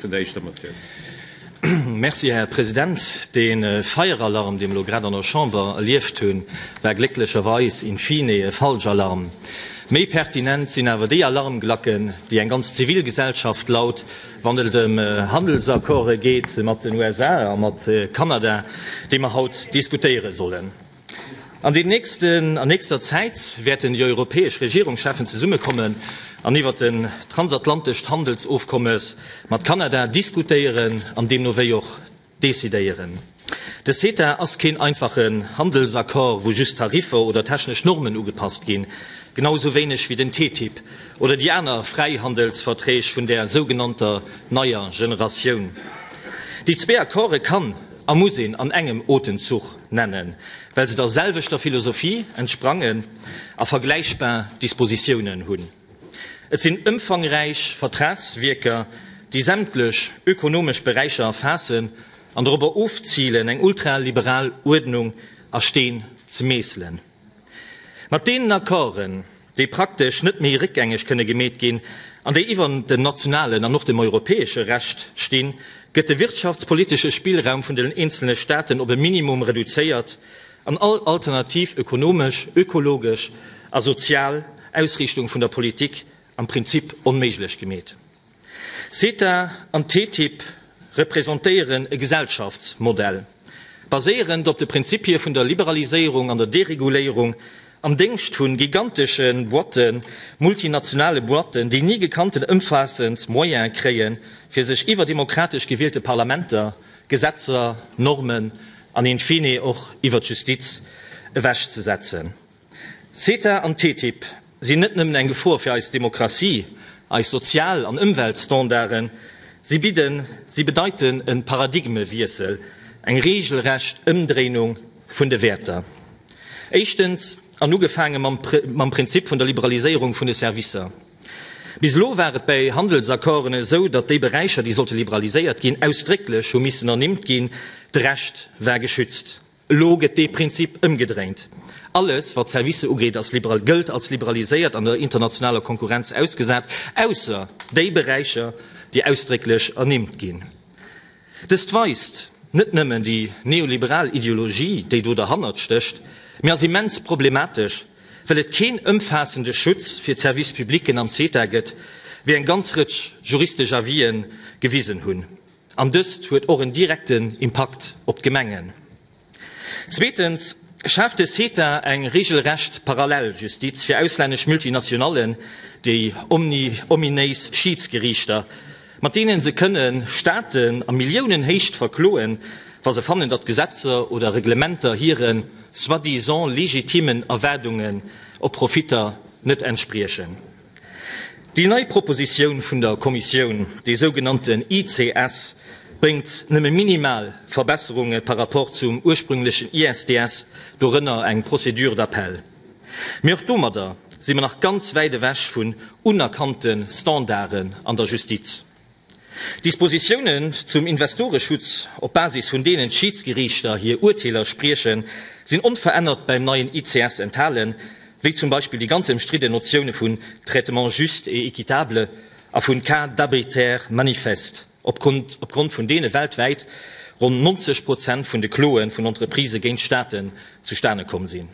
vun der éischter Motioun. Merci, Här President. De Feieralarm, dee mer elo grad an der Chamber erlieft hunn, war glécklecherweis in fine e Falschalarm. Méi pertinent sinn awer déi Alarmglacken, déi eng ganz Zivilgesellschaft laut, wann et ëm Handelsaccorde geet mat den USA a mat Kanada, déi mer haut diskutéiere sollen. An den nächsten, an nächster Zäit wäerten déi europäesch Regierungscheffen zesummekommen an iwwert den transatlantescht Handelsofkommes mat Kanada diskutéieren an deemno wéi och decidéieren. De CETA ass keen einfachen Handelsaccord, wou just Tariffer oder technesch Normen ugepasst ginn, genau esou wéineg wéi den TTIP oder déi aner Fräihandelsverträg vun där sougenannter neier Generatioun. Déi zwee Accorde kann a muss een an engem Otemzuch nennen, well se der selwechter Philosophie entsprangen a vergläichbar Dispositiounen hunn. Et sinn ëmfangräich Vertragswierker, déi sämtlech ökonomesch Beräicher erfaassen an dorobber ofzilen, eng ultraliberal Uerdnung a Steen ze meesselen. Mat deenen Accorden, déi praktesch net méi réckgängeg kënne gemeet ginn an déi iwwer dem nationalen an och dem europäesche Recht stinn, gëtt de wirtschaftspolitesche Spillraum vun den eenzelne Staaten op e Minimum reduzéiert an all alternativ ökonomesch, ökologesch a sozial Ausriichtung vun der Politik am Prinzip onméiglech gemeet. CETA an TTIP representéieren e Gesellschaftsmodell, baséierend op de Prinzipie vun der Liberaliséierung an der Dereguléierung, am Déngscht vu gigantesche Boîten, multinationale Boîten, déi ni gekannten ëmfaassend Moyene kréien, fir sech iwwer demokratesch gewielte Parlamenter, Gesetzer, Normen an in fine och iwwer d'Justiz ewechzesetzen. CETA an TTIP sinn net nëmmen eng Gefor fir eis Demokratie, eis Sozial an Ëmweltstandarden, si bidden, si bedeiten e Paradigmewiessel, eng reegelrecht Ëmdréinung vun de Wäerter. Éischtens, an ugefaange mam Prinzip vun der Liberaliséierung vun de Servicer. Bis elo war et bei Handelsaccorden esou, datt déi Beräicher, déi sollte liberaliséiert ginn, ausdrécklech hu missen ernimmt ginn, de Rescht war geschützt. Elo gëtt dee Prinzip ëmgedréint. Alles, wat d'Servicer ugeet, ass liberal, gëllt als liberaliséiert an der internationaler Konkurrenz ausgesat, ausser déi Beräicher, déi ausdrécklech ernimmt ginn. Dëst weist net nëmmen déi neoliberal Ideologie, déi do derhannert stécht, mee ass immens problematesch, well et keen ëmfaassende Schutz fir d'Service publicken am CETA gëtt, wéi eng ganz Rëtsch juristesch Avisen gewisen hunn. An dëst huet och en direkten Impakt op d'Gemengen. Zweetens schaaft de CETA eng regelrecht Paralleljustiz fir auslännesch Multinationallen, déi ominéis Schiidsgeriichter, mat deene se kënne Staaten a Milliounenhéicht verkloen, wa se fannen, datt Gesetzer oder Reglementer hire soi-disant legitimen Erwaardungen op Profitter net entspriechen. Déi nei Propositioun vun der Kommissioun, dee sougenannten ICS, bréngt nëmme minimal Verbesserunge par rapport zum ursprünglechen ISDS, dorënner eng Procédure d'appel. Mee och domadder si mer nach ganz wäit ewech vun unerkannte Standarden an der Justiz. D'Dispositiounen zum Investoreschutz, op Basis vun deenen d'Schiedsgeriichter hir Urteeler spriechen, sinn onverännert beim neien ICS enthalen, wéi zum Beispill déi ganz ëmstridden Notioune vun traitement juste et équitable a vun cas d'arbitraire manifeste opgrond vun deene weltwäit ronn 90 Prozent vun de Kloe vun Entreprisë géint Staaten zustane komm sinn.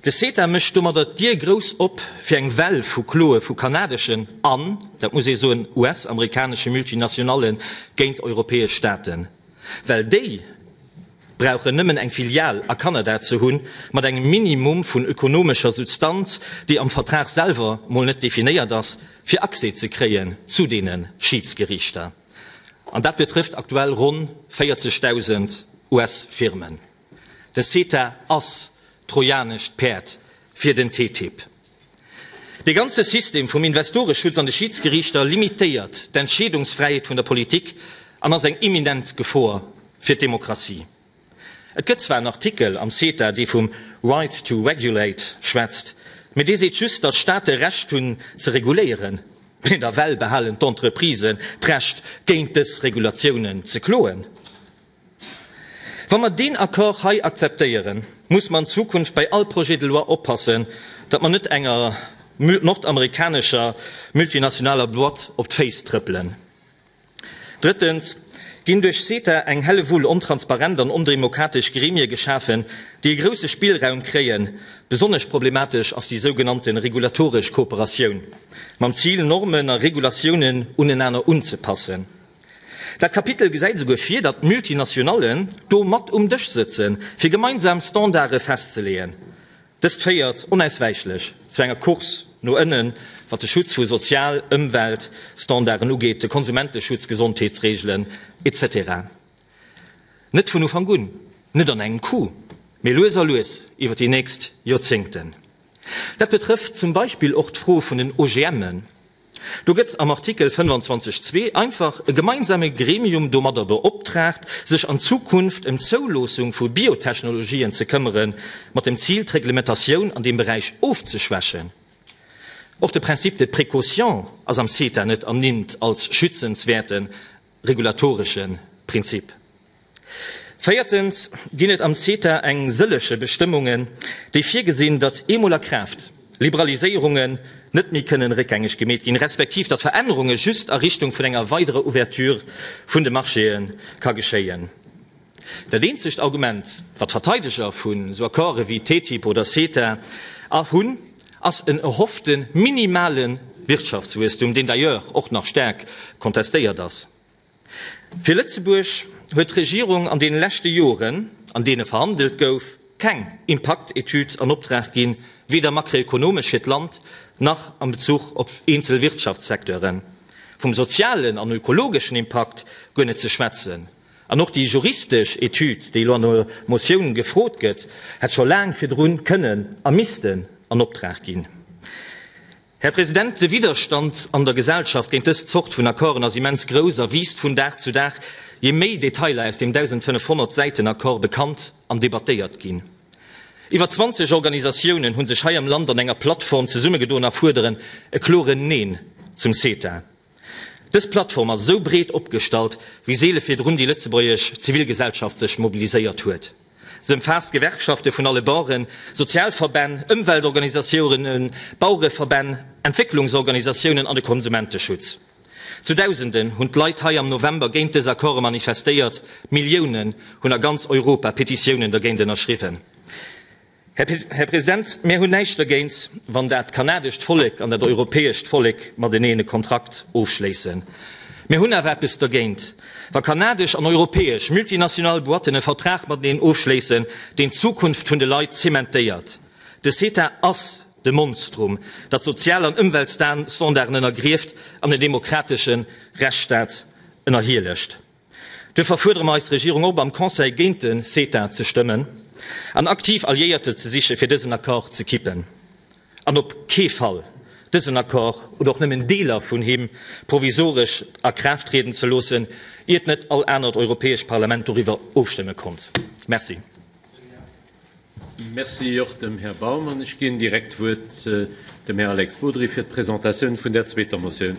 De CETA mécht domadder d'Dier grouss op fir eng Well vu Kloe vu kanadeschen an, dat muss ee soen, US-amerikanesche Multinationale géint europäesch Staaten. Well déi brauchen nëmmen eng Filial a Kanada ze hunn, mat engem Minimum vun ökonomescher Substanz, déi am Vertrag selwer mol net definéiert ass, fir Accès ze kréien zu deene Schiidsgeriichter. An dat betrëfft aktuell ronn 40.000 US-Firmen. De CETA ass d'trojanescht Päerd fir den TTIP. Dee ganze System vum Investoreschutz an de Schiidsgeriichter limitéiert d'Entscheedungsfräiheet vun der Politik an ass eng imminent Gefor fir d'Demokratie. Et gëtt zwar en Artikel am CETA, dee vum right to regulate schwätzt, mee dee seet just, datt Staate Recht hunn ze reguléieren, mee nawell behalen d'Entreprisen d'Recht, géint dës Regulatiounen ze kloen. Wa mer deen Accord hei akzeptéieren, muss mer an Zukunft bei all Projet de loi oppassen, datt mer net enger nordamerikanescher multinationaler Boîte op d'Féiss trëppelen. Drëttens ginn duerch CETA eng Hellewull ontransparent an ondemokratesch Gremie geschafen, déi e grousse Spillraum kréien. Besonnesch problematesch ass déi sougenannte regulatoresch Kooperatioun, mam Zil, Normen a Regulatiounen unenaner unzepassen. Dat Kapitel gesäit esouguer vir, datt d'Multinationallen do mat um Dësch sëtzen, fir gemeinsam Standarde festzeleeën. Dëst féiert onauswäichlech zu enger Course no ënnen, wat de Schutz vu Sozial-, Ëmwelt-, Standarden ugeet, de Konsumenteschutz, Gesondheetsreegelen, etc. Net vun Ufank un, net an engem Coup, mee lues a lues iwwer déi nächst Joerzéngten. Dat betrëfft zum Beispill och d'Fro vun den OGMen. Do gëtt am Artikel 25 zwee einfach e gemeinsame Gremium domadder beoptraagt, sech an Zukunft ëm d'Zouloossung vu Biotechnologien ze këmmere mat dem Zil, d'Reglementatioun an deem Beräich ofzeschwächen. Och de Principe de précaution ass am CETA net ernimmt als schützenswäerten regulatoresche Prinzip. Véiertens ginn et am CETA eng sëllege Bestëmmungen, déi virgesinn, datt eemol a Kraaft Liberaliséierungen net méi kënnen réckgängeg gemeet ginn, respektiv datt Verännerunge just a Richtung vun enger weiderer Ouverture vun de Marchéë ka geschéien. Dat eenzegt Argument, wat Verteideger vun esou Accorde wéi TTIP oder CETA hunn, ass en erhoffte minimale Wirtschaftswuesstum, deen d'ailleurs och nach staark contestéiert ass. Fir Lëtzebuerg huet d'Regierung an deene leschte Joren, an deene verhandelt gouf, keng Impaktetüd an Optrag ginn, weder makroekonomesch fir d'Land nach am Bezuch op eenzel Wirtschaftssecteuren. Vum sozialen an ökologeschen Impakt guer net ze schwätzen. An och déi juristesch Etüd, déi elo an der Motioun gefrot gëtt, hätt scho laang virdru kënnen a missten an Optrag ginn. Här President, de Widderstand an der Gesellschaft géint dës Zort vun Accorden ass immens grouss a wiisst vun Dag zu Dag, jee méi Detailer aus deem 1.500 Säiten Accord bekannt an debattéiert ginn. Iwwer 20 Organisatiounen hu sech hei am Land an enger Plattform zesummegedoen a fuerderen e kloren Neen zum CETA. Dës Plattform ass esou breet opgestallt wéi seele virdrun déi lëtzebuergesch Zivilgesellschaft sech mobiliséiert huet. Se ëmfaasst Gewerkschafte vun alle Baueren, Sozialverbänn, Ëmweltorganisatiounen, Bauereverbänn, Entwécklungsorganisatiounen an de Konsumenteschutz. Zu Dausenden hunn d'Leit hei am November géint dës Accorde manifestéiert, Milliounen hunn a ganz Europa Petitiounen dergéint ënnerschriwwen. Här President, mir hunn näischt dergéint, wann dat kanadescht Vollek an dat europäescht Vollek mateneen e Kontrakt ofschléissen. Mir hunn awer eppes dergéint, wa kanadesch an europäesch multinational Boîten e Vertrag mateneen ofschléissen, deen d'Zukunft vun de Leit zementéiert. De CETA ass de Monstrum, dat Sozial an Ëmweltstandarden ënnergrieft an den demokratesche Rechtsstaat ënnerhielegt. Duerfir fuerdere mer eis Regierung op, am Conseil géint de CETA ze stëmmen an aktiv Alliéierte ze siche fir dësen Accord ze kippen an op kee Fall dësen Accord oder och nëmmen Deeler vun him provisoresch a Kraaft trieden ze loossen, iert net all anert europäescht Parlament doriwwer ofstëmme konnt. Merci. Merci och dem Här Baum. An ech ginn direkt d'Wuert dem Här Alex Bodry fir d'Presentatioun vun där zweeter Motioun.